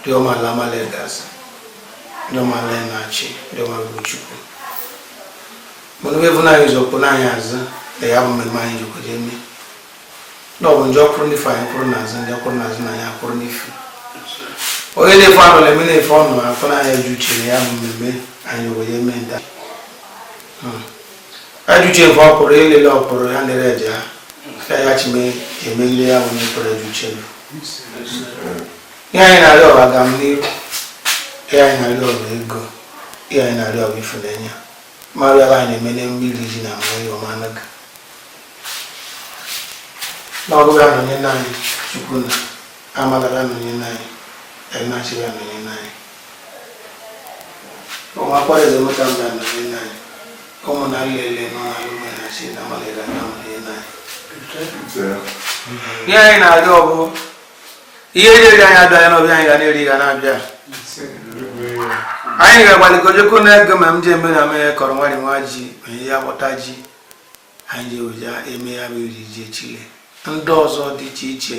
ndị ọma ala amala egazi ndị ọma ala enachi ndị ọma bụ chukwu mana onye bụ anyị zọpụ n'anyị azụ na ya bụ mmemme anyị jikwa jee mee na ọ bụ ndị ọkwụrụ n'ife anyị kwụrụ n'azụ ndị ọkwụrụ n'azụ na anyị akwụrụ n'ife onye na-efe anụ na-eme na-efe ọnụ afọ na anyị ju uche na ya bụ mmemme anyị wee mee nta Ajụjụ efe ọ pụrụ ịlele ọ pụrụ ya lere eje ha ka ya chime emegide ya bụ n'ikpere ju chelu ihe anyị na-arịọ ọ bụ agamniru ihe anyị na-arịọ ọ bụ ego ihe anyị na-arịọ ọ bụ ifunanya mmadụ ala anyị na-eme n'emume iri ji na mma ihe ọma anaga na ọ bụ ya nọnye n'anyị chukwu na amala ya nọnye n'anyị enachi ya nọnye n'anyị ụmụ akwara eze mụta mba ya nọnye n'anyị ihe anyị na-arịọ ọ bụ ihe eriri anyị abịa ya n'ọbịa anyị ga na-eri ga na-abịa anyị ga-agbalị ike jeko n'egu ma m ji eme na mee kọrọ nwadị nwa ji ma ihe ya gbọta ji anyị ji eje eme ya bụ iri ji echi le ndị ọzọ dị iche iche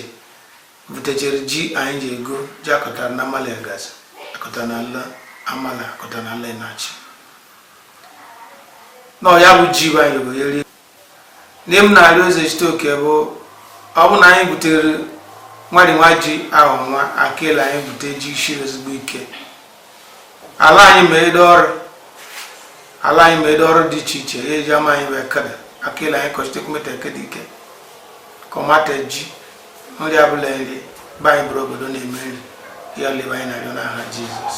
butechere ji anyị ji ego ji akọtara na amala egazi akọta na ala amala akọta na ala enachi na ya bụ ji bụ anyị ga-eri na ihe m na-arịọ ezechitoke bụ ọ bụ na anyị butere nwadị nwa ji arọ nwa aka ile anyị bute ji siri ezigbo ike ala anyị ma ede ọrụ ala anyị ma ede ọrụ dị iche iche ya eji ama anyị wee kede aka ile anyị kọchite kumeta ekede ike kọmata ji nri abụla nri be anyị bụrụ obodo na-eme nri ya lebe anyị na-arịọ n'aha jizọs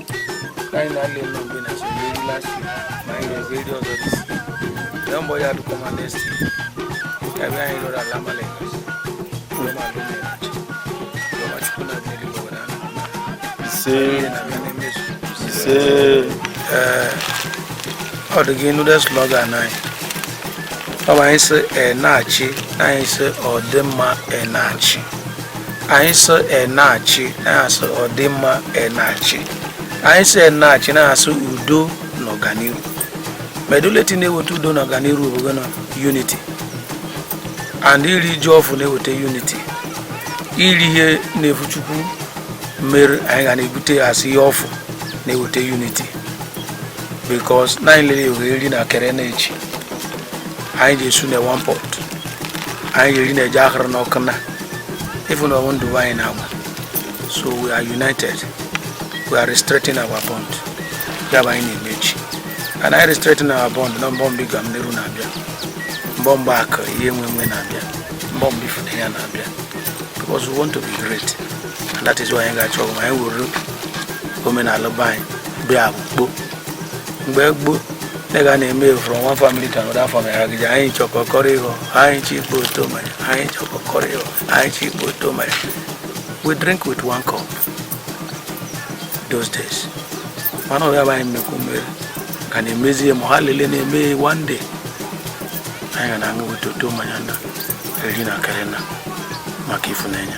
ọ dị gị nude slogan anyị ọ bụ anyị sị enachi na anyị sị ọdịmma enachi anyị sị enachi anyị sị ọdịmma enachi anyị sị enachi anyị sị udo na ọganiru meduleti na-eweta udo na ọganiru bụ gịnị unity and iri ji ọfụ na-eweta unity iri ihe na-efu chukwu mere anyị ga na-ebute asị ihe ọfụ na-eweta unity because na anyị liile eri na kere na echi anyị ga-esu na one pot anyị ga-eri na ji a hụrụ n'ọkụ na even ọ bụ ndị be anyị na Aba. So we are united. We are restrengthening our bond. Ya bụ anyị na-emechi. And I restrengthening our bond na ọ bụ mgbe agamniru na-abịa. Ọ bụ mgbe akụ ihe enwe enwe na-abịa. Ọ bụ mgbe ịfụnanya na-abịa. Because we want to be great. And that is why anyị ga-achọ anyị weru omenala be anyị bịa akpụkpo mgbe gboo ndị ga na-eme from one family to another family anyị chọkọkọrọ ịghọ anyị chi ikpe oto mmanya anyị chọkọkọrọ ịghọ anyị chi ikpe oto mmanya we drink with one cup those days mana ọbịa bụ anyị mmekwu mmeri ka na-emezi ya ma ha lele na-eme one day anyị ga na-aṅụ weta oto mmanya na-eri na akịrị nna maka ịfụnanya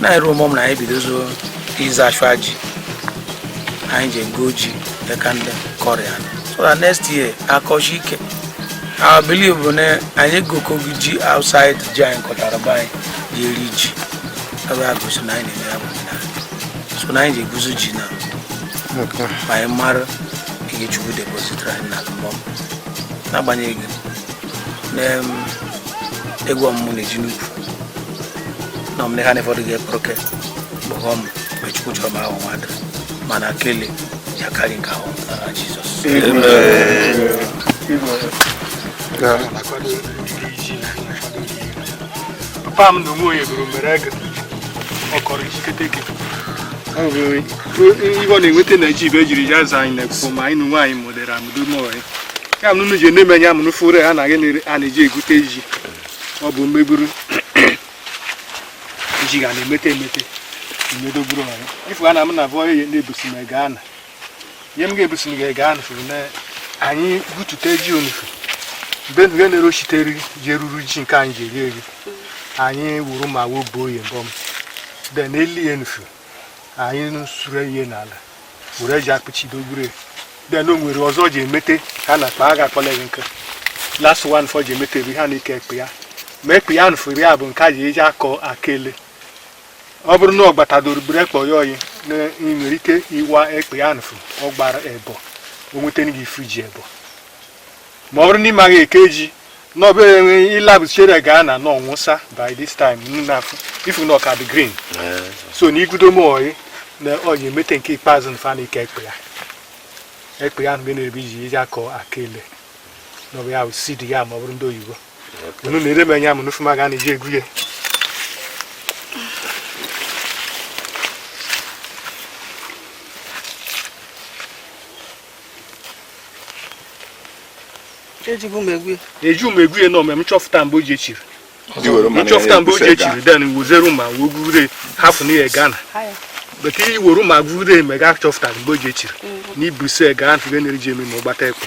na-arịọ ụmụ m na anyị bidozo ize achụ ji anyị ji ego ji dịka ndị kọrọ ya so that next year a kọsi ike I believe bụ na anyị goko ji outside ji anyị kọtara be anyị ji eri ji ebe a gosi na anyị na-eme ya bụ omenala so na anyị ji eguzo ji na Okay. ma anyị mara ihe chukwu depositara anyị na mbọ n'agbanyeghị na em, egwu ọmụmụ na-eji n'ukwu na m ha na ụfọdụ ga-ekpọ oke kpọghọ m mgbe chukwu chọrọ m ahụ mmadụ mana akele ya karị nke ahụ na jizọs papa m na onwe onye gụrụ mere ego ọ kọrọ ikikete gị ihe ọ na-enweta na ji ibe ejiri ya za anyị na-ekwu ma anyị na nwaanyị mụdere amụdo mọrị ya m nunu ji na-emenye amụnụ fụrụ ha na gị a na-eji egute ji ọ bụ mmegburu ji ga na-emete emete emedogburu ọrụ ifu ana m na abụọ ihe na-ebusi m ego ana ihe m ga-ebusi m ga-ego ana fụrụ na anyị butute ji onufu mgbe nge na-ere ochite eri ji eruru ji nke anyị ji eri eri anyị wuru ma wobuo oyi mbọ m then eli ya nufu anyị sure ya n'ala were aja kpuchido gbure then o nwere ụzọ e ji emete ha na akpa agha akpọleghị nke last one fọ ji emete ebe ha na-eke ekpe ya ma ekpe ya nfụrụ ya bụ nke a ji eji akọ akele ọ bụrụ na ọ gbatadoro gburu ekpe ya oyi na ị nwere ike ịwa ekpe ya nfụ ọ gbara ebo o nweta gị ifu ji ebo ma ọ bụrụ na ị maghị eke ji na ọ bụ ị labụ chere gaa na ọ nwụsa by this time unu na-afụ ifu na ọ ka dị green so na igudo m oyi na oyi emete nke ikpeazụ na fa na-eke ekpe ya ekpe ya mgbe na-ebi ji eji akọ akele na ọ bụ ya bụ seed yam ọ bụrụ ndị oyibo unu na-ere m yam n'ofu ma ga na-eji egwu ya ejighị m egwu eji m egwu ya n'ome m chọfụta mgbe o ji echiri m chọfụta mgbe o ji echiri then wezere ụma wee gwure hafụ na ya gana but i woro ụma gwure me ga chọfụta mgbe o ji echiri na ibuse ga ntị ga na-eri ji eme ma ọ gbata ekwe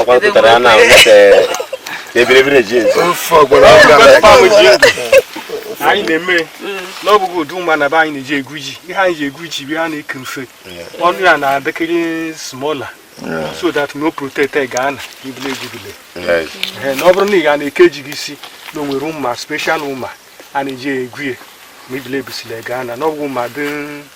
ọkwa pụtara ya na ebiribiri ji ezu anyị na-eme n'ọbụghị ụdị ụma anaba anyị na-eji egwu ji ihe anyị ji egwu ji bụ ha na-eke mfe ọnụ ya na-adịkịrị smaller so that n'ọ protect ga-ana ibule egwubule na ọ bụrụ na ị ga na-eke ji gị isi na onwere ụma special ụma a na-eji egwu ya ma ibule ebusile ga-ana n'ọbụghị ụma dị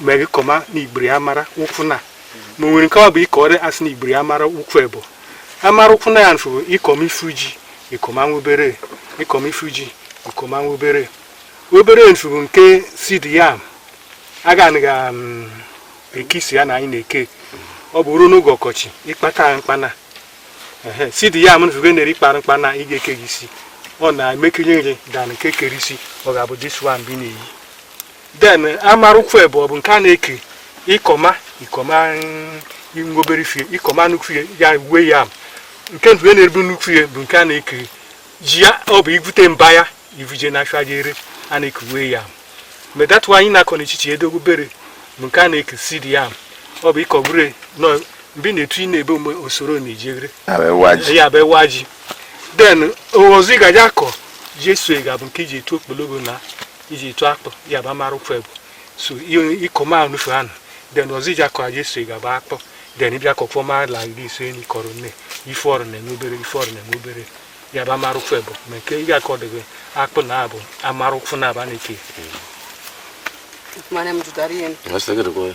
mgbe gị kọma na igbiri amara ụkwụ na ma nwere nke ọ bụ ịkọrị a sị na igbiri amara ụkwụ ebo amara ụkwụ na ya nfụ ịkọma ifu ji ịkọma nwa obere ịkọma ifu ji ịkọma nwa obere obere nfụ bụ nke seed yam a ga na-ekisi ya na anyị na-eke ọ bụ ruo n'oge ọkọchị ịkpata mkpana seed yam nfụ gị na-eri kpara mkpana ị ga-eke gị isi ọ na-emekinye gị than nke kere isi ọ ga-abụ this one bi na-eyi then amara ụkwụ ebo ọ bụ nke a na-eke ịkọma ịkọma nwobere fie ịkọma nnukwu ihe ya ware yam nke ndụ e na-ebu nnukwu ihe bụ nke a na-eke ji ya ọ bụ igwute mba ya ivuje na afịa je ere a na-eke ware yam that's why anyị na-akọ n'echichi edogo obere bụ nke a na-eke seed yam ọ bụ ịkọ bure nọ mgbe ị na-etu ị na-ebe mgbe osoro na-eji ere ya bụ ewa ji then ọzọ ị ga-eji akọ ji eso ga bụ nke iji etu okpologo na iji etu akpụ ya bụ amara ụkwụ ebo so ịkọma nufu anụ then ọzọ iji akọ ji eso ga bụ akpụ then ịbịa kọ ọfụma la gị iso enyi kọrọ nne ife ọrụ na-eme obere ife ọrụ na-eme obere ya bụ amara ụkwụ ebo ma nke ịga akọ debe akpụ na abụ amara ụkwụ na aba na-eke Mane mtu tarien. Nasta gada kwa.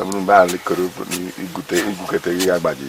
ọ bụrụ mgbe ahụ kere igwute igwukete ya agbaji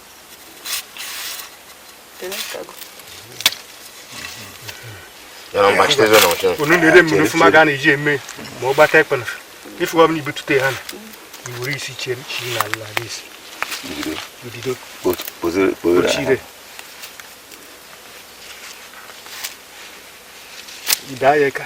unu lede m anya ọfụma ga na-eji eme ma ọ gbata ekpena ife ọbụla ibutute ha na iwere isi chie chi na ala isi udido ochire ide ayeka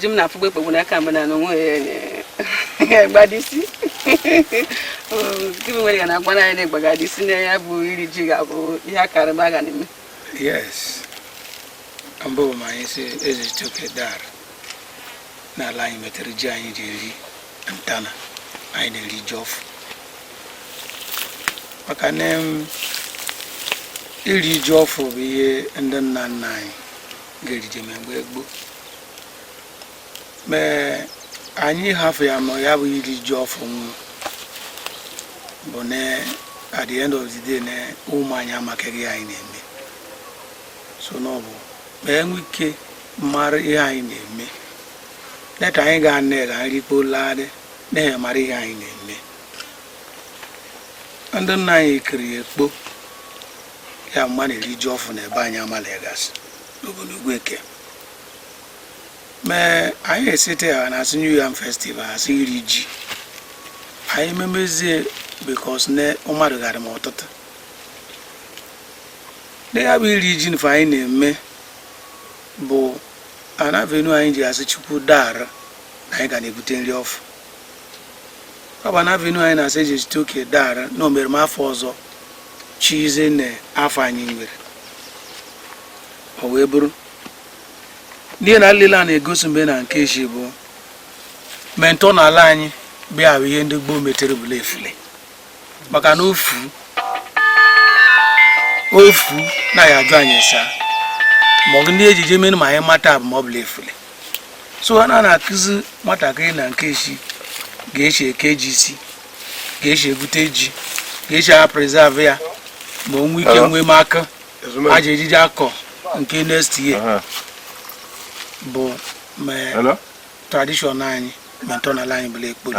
ji m na-afụgba ekpegbu n'aka mgbe na onwe ya gbadisi gịnị nwere ya na agwa anyị na-egbagadi si na ya bụ iri ji ga-abụ ihe a karịba a ga na-eme yes mbụ ma anyị sị Ezechitoke daara n'ala anyị metere ji anyị ji eri ntana anyị na-eri ji ọfụ maka na iri ji ọfụ bụ ihe ndị nna nna anyị ga-erije ma mgbe gboo mee anyị hafụ ya ma ya bụ iri ji ọfụ nwụ bụ na at the end of the day na ụmụ anyị amakeghị ihe anyị na-eme so na ọ bụ ma e nwee ike mara ihe anyị na-eme leta anyị ga nne ga nri kpolagharị na-enye mara ihe anyị na-eme ndị nna anyị kiri ekpo ya mma na-eri ji ọfụ na ebe anyị Amalla Egazi n'obodo Ugwueke mee anyị esite ya na asị New Yam Festival asị iri ji anyị memezie because na mmadụ gara m ọtụtụ na ya bụ iri ji nfe anyị na-eme bụ an avenue anyị ji asị Chukwu daara na anyị ga na-ebute nri ọfụ ọ bụ an avenue anyị na-asị Ezechitoke daara na o mere m afọ ọzọ chize na afọ anyị nwere o wee bụrụ n'ihe na nlele a na-egosi mgbe na nke echi bụ ma ntọnala anyị bịa ahụ ihe ndị gboo metere bụla efule maka na ofu ofu naghị ajụ anyị esa ma ọ bụ ndị ejije mere ma anyị mata abụ ma ọ bụla efule so ha na na-akụzi nwatakịrị na nke eshi ga-eshi eke ji isi ga-eshi ebute ji ga-eshi a preserve ya ma o nwee ike nwee m aka a ja-ejije akọ nke next year bụ ma tradition anyị ma ntọala anyị bụla ekporo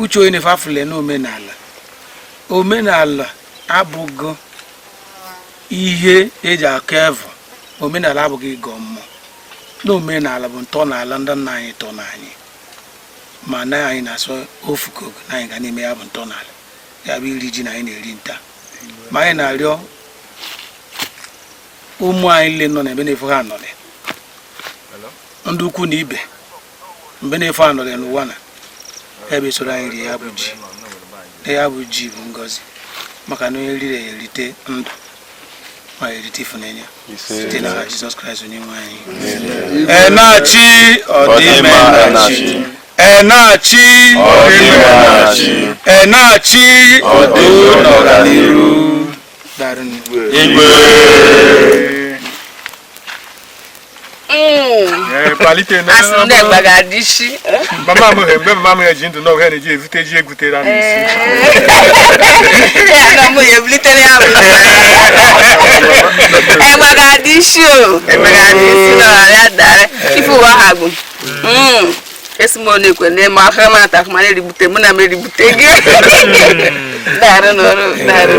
uche onye na-efe afụle na omenala omenala abụghị ihe e ji aka evu omenala abụghị ịgọ mmụọ na omenala bụ ntọala ndị nna anyị tọ na anyị ma na anyị na-asọ ofu kogo na anyị ga na-eme ya bụ ntọala ya bụ iri ji na anyị na-eri nta ma anyị na-arịọ ụmụ anyị nile nọ n'ebe na-efu ha anọrị ndị ikwu na ibe mgbe na-efe anọrọ ya n'ụwa na ebe soro anyị rie ya bụ ji ya bụ ji bụ ngozi maka na onye riri ya erite ndụ ma erite ifunanya site n'aha Jizọs Kraịst onye nwe anyị Enachi ọdịmma Enachi Enachi ọdịmma Enachi Enachi udo n'ọganiru igwe mama m mgbe mama m ya ji ndụ n'ọgụ ya na-eji evute ji egwutere anụ isi ife ụwa ha bụ esi m onye ekwe n'ime aka m ata akụma na-erigbute mụ na m erigbute gị daarụ n'ọrụ daarụ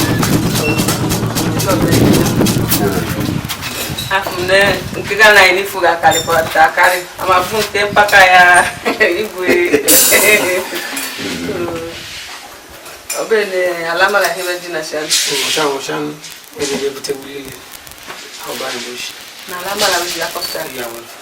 nke ga na iri fuga karịkwara akarị amafu nke mpaka ya igwe ọbụrụ na ala mara ihe ji na shan shan shan ebe ebute wuli ọba ndoshi na ala mara wuli akọpụtara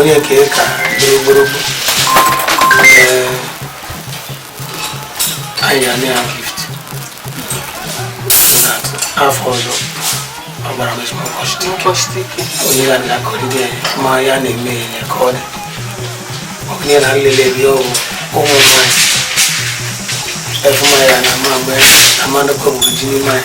onye nke ka gbogbologbo anyị ga-enye ya gift afọ ọzọ ọ gbara m ezigbo nkọchite ike onye ga na akọrịde ma ya na-eme ya ka ọ dị ọkụnye na nlele bi ọgwụ ụmụ nwanyị efuma ya na ama mgbe amanụkọ bụ ji n'ime anyị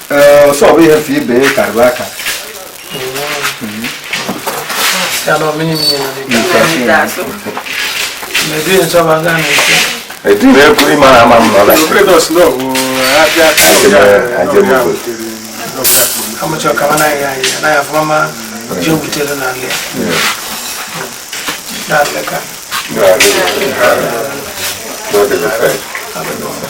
ọsọ bụ ihe fi ibe karịrị aka Eku ị mara ama m nọ na Thank you.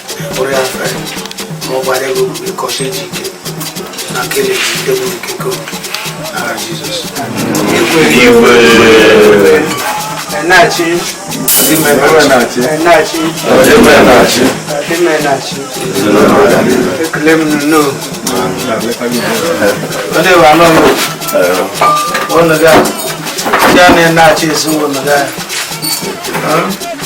ekele m nnọọ ndị bụ anọ ọnụ ga ndị a na-achị ezinụlọ ga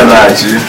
Enachi!